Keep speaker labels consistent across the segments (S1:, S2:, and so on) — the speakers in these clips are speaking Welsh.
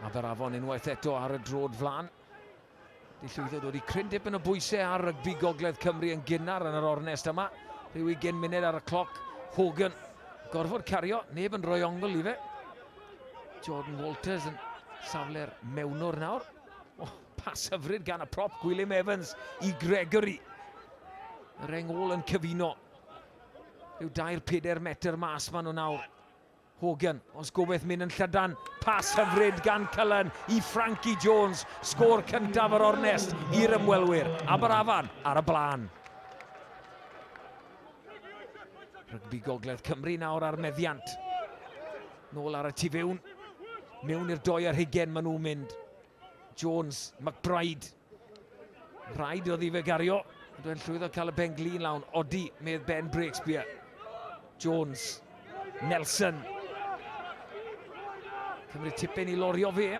S1: Aberafon unwaith eto ar y drod flan. Di llwyddo dod i cryn dipyn o bwysau ar rygbi Gogledd Cymru yn gynnar yn yr ornest yma. Rhyw ugen munud ar y cloc. Hogan gorfod cario, neb yn rhoi ongl i fe. Jordan Walters yn safle'r mewnwr nawr. Oh, pas hyfryd gan y prop Gwilym Evans i Gregory. Yr engol yn cyfuno. Rhyw dair peder metr mas maen nhw nawr. Hogan, os gobeith mynd yn llydan, pas hyfryd gan Cullen i Frankie Jones, sgôr cyntaf yr ornest i'r ymwelwyr, Aberafan ar y blaen. Rygbi Gogledd Cymru nawr ar meddiant. Nôl ar y tu fewn. Mewn i'r doi ar hugen maen nhw'n mynd. Jones, McBride, Rhaid oedd i fe gario. Dwi'n llwyddo cael y pen glin lawn. Odi, medd Ben Breakspear. Jones. Nelson. Cymru tipyn i lorio fe.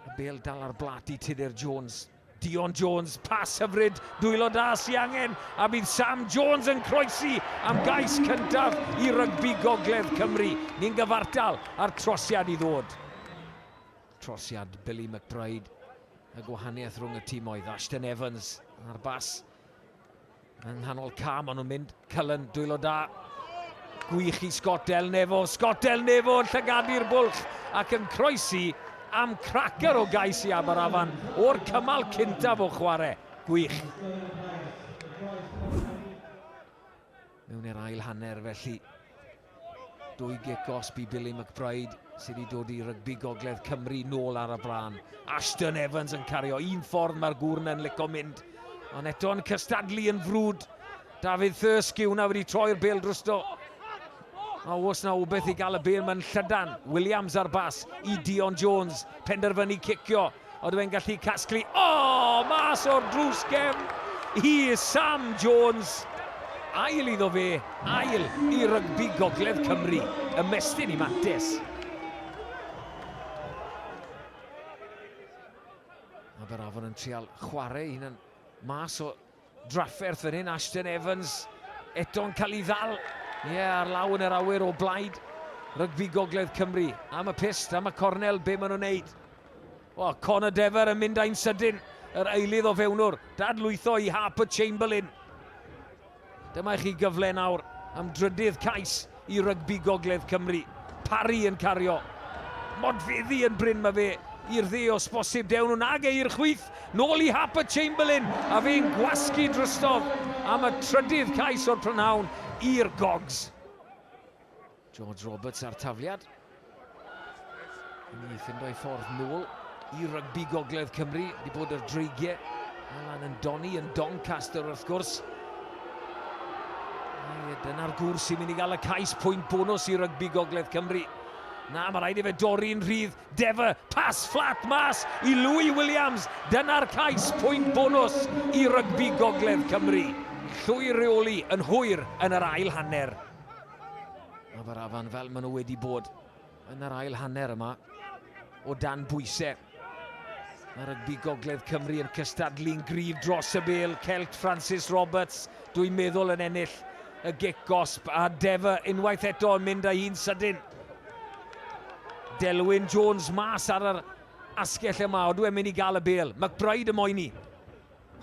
S1: Y bel dal ar blat i Tudur Jones. Dion Jones, pas hyfryd, dwylo da sy angen, a bydd Sam Jones yn croesi am gais cyntaf i rygbi gogledd Cymru. Ni'n gyfartal ar trosiad i ddod. Trosiad Billy McBride, y gwahaniaeth rhwng y tîm oedd Ashton Evans a'r bas yng nghanol cam, ond nhw'n mynd Cullen, dwylo da. Gwych i Scott Del Nefo, Scott Del Nefo yn llygadu'r bwlch ac yn croesi am cracer o gais i Aberafan o'r cymal cyntaf o chwarae. Gwych. Mewn i'r ail hanner felly. Dwy gic gosb i Billy McBride sydd wedi dod i rygbi gogledd Cymru nôl ar y blaen. Ashton Evans yn cario un ffordd mae'r gwrn yn lico mynd. Ond eto'n cystadlu yn frwd. David Thursky, hwnna wedi troi'r bel drusto. A os na wbeth i gael y bel mae'n llydan. Williams ar bas i Dion Jones. Penderfynu cicio. Ydw e'n gallu casglu? O! Mas o'r drws gefn i Sam Jones. Ail iddo fe, ail i rygbi Gogledd Cymru. Ymestyn i Mates. Mae Berafon yn trial chwarae un yn mas o Drafferth fan hyn, Ashton Evans eto'n cael ei ddal, ie, ar law yn yr awyr o blaid rygbi Gogledd Cymru. Am y pyst, am y cornel, be maen nhw'n neud? O, Connor Dever yn mynd ai'n sydyn, yr eilydd o fewnwr, dadlwytho i Harper Chamberlain. Dyma i chi gyfle nawr am drydydd cais. i rygbi gogledd Cymru. Parry yn cario. Modfeddi yn brin mae fe i'r dde os bosib. Dewn nhw'n ag e i'r chwith. Nôl i Harper Chamberlain a fe'n gwasgu drostodd am y trydydd cais o'r prynhawn i'r Gogs. George Roberts a'r tafliad. Ni ffindo ei ffordd nôl i rygbi gogledd Cymru. Di bod yr dreigiau allan yn doni yn Doncaster wrth gwrs. Dyna'r gwr sy'n mynd i gael y cais pwynt bonus i rygbi gogledd Cymru. Na, mae rhaid i fe dorri'n rhydd. Defa, pas fflat mas i Louis Williams. Dyna'r cais pwynt bonus i rygbi gogledd Cymru. Llwy reoli yn hwyr yn yr ail hanner. Aberafan fel maen nhw wedi bod yn yr ail hanner yma o dan bwysau. Mae rygbi Gogledd Cymru yn cystadlu'n gryf dros y bel. Celt Francis Roberts, dwi'n meddwl yn ennill y gic gosb a Defa unwaith eto yn mynd â hi'n sydyn. Delwyn Jones mas ar yr asgell yma, odw e'n mynd i gael y bel. McBride y moyn i.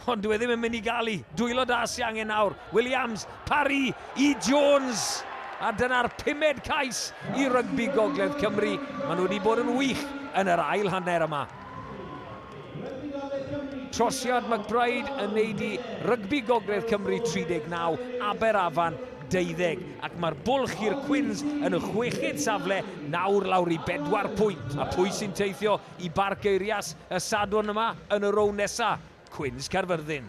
S1: Ond dyw e ddim yn mynd i gael i. Dwylo da sy angen nawr. Williams, Parry i Jones. A dyna'r pumed cais i rygbi Gogledd Cymru. Maen nhw wedi bod yn wych yn yr ail hanner yma. Trosiad McBride yn neud i rygbi Gogledd Cymru 39, Aberafan 20, ac mae'r bwlch i'r Cwins yn y chweched safle nawr lawr i bedwar pwynt. A pwy sy'n teithio i Barc Eirias y Sadwrn yma yn y rownd nesa, Cwins Caerfyrddin.